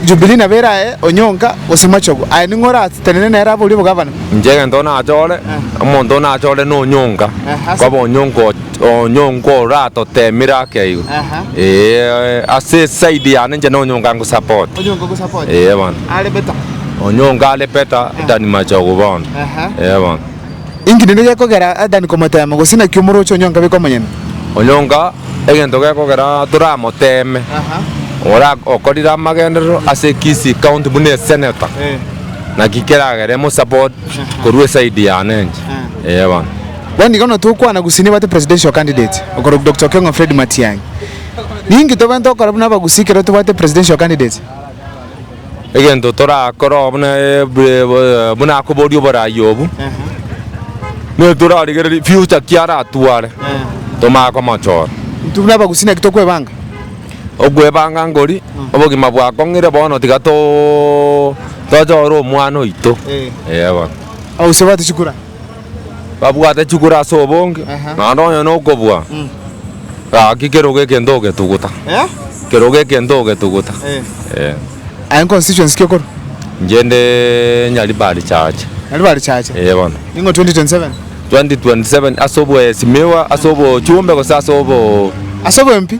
Jubilii nabo erae onyonga gose machogu, aye ning'o oratenene nere aborie obogavana? Inche egento nachore, omonto nachore na onyonga, koba onyonga onyonga oratotemire ake igo. Eeh ase eside yane inche na onyonga nko support. Onyonga ogo support? Eeh bono. Are better? Onyonga are better than machogu bono. Eeh bono. Inki rende gekogera Adani komoteema, gose naki omorooche onyonka beka omonyene? Onyonka egento gekogera toramoteeme, ore okorire amagenderero ase Kisii County buna esenator, naki keragere mosupport korwa eside yane inche, ee bono. Bono igo notokwana Gusii nebwate presidential candidate okorokwa Doctor Okeng'o Fred Matiang'i. Ninki tobwenerete gokora buna Abagusii ekero tobwate presidential candidate? egento torakore oo buna ebuee buna akoboria oborai obwo, nigo torarigereria future ki aratware tomanye komochora. Intwe buna abagusii naki tokwebanga? Okwebanga nkori, obogima bwakong'ire bono tiga too tochore omwana oito, eeh bono. Abagusii babwate chikura? babwate chikura ase obonge, Aha. naende onye nokobua, Mm. gaki kerogo egento ogetuguta, Eh? kerogo egento ogetuguta. Eh. Eh. Aye constituency ki okorwa? Inche nde Nyaribari chache, Nyaribari chache. eh bono. Ning'o 2027? 2027 ase obwesimiwa, ase obochumbe gose ase obo Ase obwempi?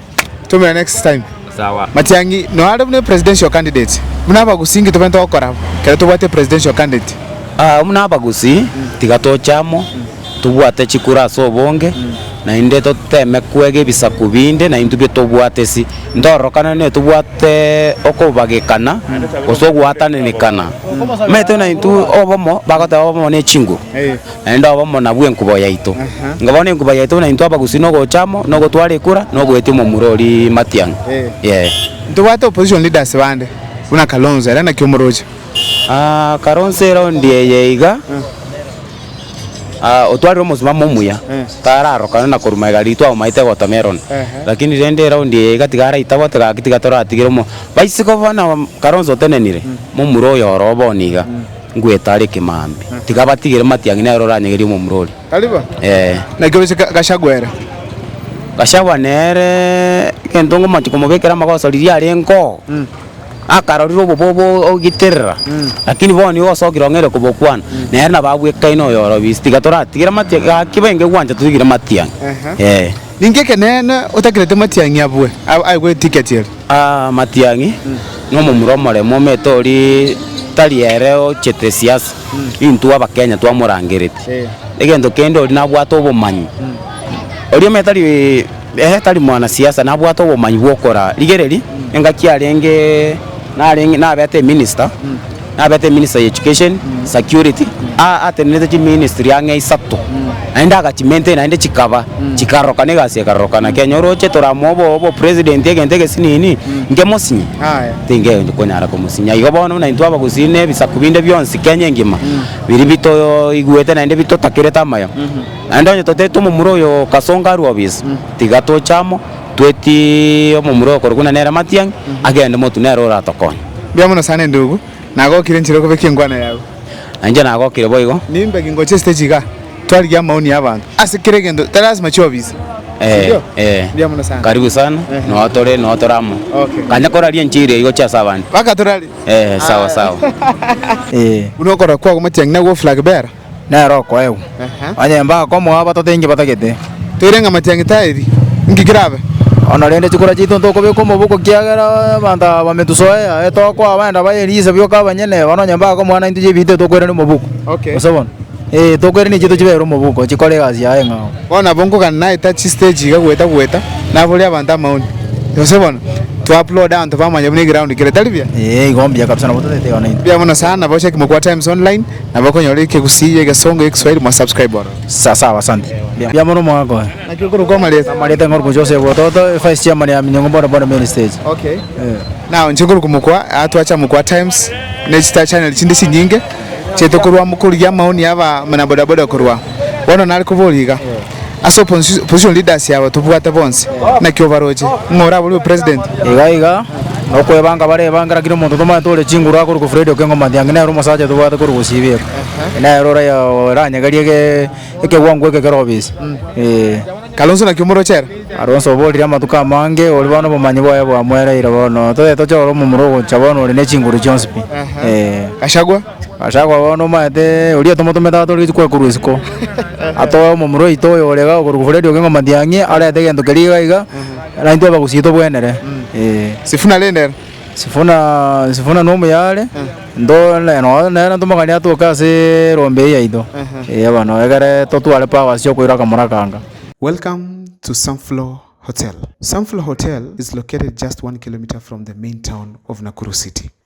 Tumira next time. Sawa. Matiangi noare buna presidential candidate buna abagusi nki tobete gokora kero tobwate presidential candidate? Aa buna abagusi tiga toche amo tobwate chikura ase obonge naende toteme kwega ebisaku binde naintwe bi tobwate si ntororokane ne tobwate okobagekana gose ogwatanenekana maete naintwe obomo bagoteba obomo ne chinguru. Naende obe omona bw'enkubo yaito. Inga bono enkuba yaito buna intwe abagusii nogocha amo, nogotwara ekura, nogoetia omomura oria matiang'a. Yee. Ntobwate opposition leaders bande, buna Kalonzo ere naki omoroche? Ah, Kalonzo erondi eye iga, ah, otwarire omosimamo omuya, tararokane na korwa magega riria twamomaete gotomi erondo. Lakini rende erondi eye iga tiga araitabote tiga gaki tiga toratigere omo. Baisiko bono Kalonzo otenenire, momura oyo oro o bono iga. Ngwetare kemambe, tiga batigere matiang'i nere oranyegerie omomura oria. Naki oise Gachagua ere? Gachagua nere egento ngomanche komobekera amagoso riria arengeo, akarorire obobobe ogiterera, lakini bono igo osokire ong'eire kobokwana, nere nabo abwekaine oyorobise, tiga toratigere matiang'i, gaki bainge gwancha totigire matiang'i. Ninki ekeneene otakereti matiang'i abwe aigwe etiketi eria? Amatiang'i nomomura omoremwa omete oria tari ere ochete siasa intwe abakenya twamorangereti egento kende oria nabwate obomanyi oria omanyete tari eeh tari mwana siasa nabwate obomanyi bwokora rigereria engaki arenge narenge nabete eminister. nabete eminister ya education, security, aa atenerete chiministry ang'e isato, naende agachimaintain naende chikaba chikarorokana egasi ekarorokana. Kenya oroche toramoe obo obopresident egento egesi nini, nkemosinye? Aya. Tingekonyara komosinya. Igo bono buna intwe abagusii na ebisaku binde bionsi Kenya engima, biria bitoigwete naende bitotakerete amayo, naende onye totaete omomura oyo Kasongo arue obisa, tiga toche amo. Tweti omomura okorokwa na nere amatiang'i, agende motu nere oratokonye. Mbuya mono sana endugu, nagokire enchera okobekia enkwana yao. Na inche nagokire boigo. Nimbe gingocha esite chiga, twarigia amaoni y'abanto ase kera egento, tari lasima chiobise. Eh, eh. Mbuya mono sana. Karibu sana, Ehe. noo tore, noo tore amo. Okay. Kanya koraria enchiri eyio gochia ase abande. Baka torari. Eh, sawa, sawa. Buna okorokwa okwo amatiang'i nagwo ofula kebera. Nere okoegwa, Aha. onye mbakomoa batato inki batagete. Toirenge amache ya Ngetari, inki kerabe? Ono rende chikura chiaito ntokobeka omoboko kiagera abanto aba bametusoea, etokoa abande abaye riise bioka abanyene, bono onye mbakomoa naintwe chibiito etokoirania omoboko. Okay. Gose bono, ee, tokoirania chiaito chibere omoboko, chikore egasi yaye ng'ao. Bono nabo nkogana naeta chistage iga goeta goeta, naboria abanto amaoni. Gose bono, touploade abanto bamanye buna eground kere, tari buya? Ee, igo mbuya kabisa nabo totaete iga naintwe. Mbuya mono sana, bochia kimokwa Times Online, Nabo okonyora ekegusii ya egesongo ya egiswahili mwa subscribe oro. Sawa sawa asante. Mbuya mono omogaka oye. Naki okorokwa amareta? Amareta ngorokwa gochia ase obototo, vice chairman ya Minyongo boda boda main stage. Okay. Eeh. Now inche nkorokwa mokwa atwacha mokwa times ne chita channel chinde chinyinge chiaito korwa mokorigia amaoni ya aba mana boda boda korwa bono nare koboria iga. Ase opposition leaders aba tobwate bonsi, naki obaroche? Ng'a oraborwe president? Iga iga, nokwebanga barebangera kera omonto tomanyete ore chinguru akorwa ko Fred Okengo Matiangi nere omosacha tobwate korwa gosiba ere. Nere ora oranyegerie ge ekegwango eke kere obise. Eeh. Kalonzo naki omoroche ere? Kalonzo oborire amatuko amange ori bono obomanyi bwaye bwamoereire bono. Toye toche ore omomura ogocha bono ore ne chinguru chionsi pi. Eeh. Gachagua? Ase akoba bono omanyete oria tomotomete abe tore rituko ekorwa isiko atoe omomura oito oyo ore iga okorwa Fred Okengo Matiang'i arete egento keria iga iga na intwe abagusii tobwenere eh. Sifuna rende ere? Sifuna Sifuna na omuyare ndo ne- nonye nere ntomokanie atoke ase erombe eye yaito eh bono egere totware powers chia okoira akamura aka anga. Welcome to Sunflower Hotel. Sunflower Hotel is located just one kilometer from the main town of Nakuru City.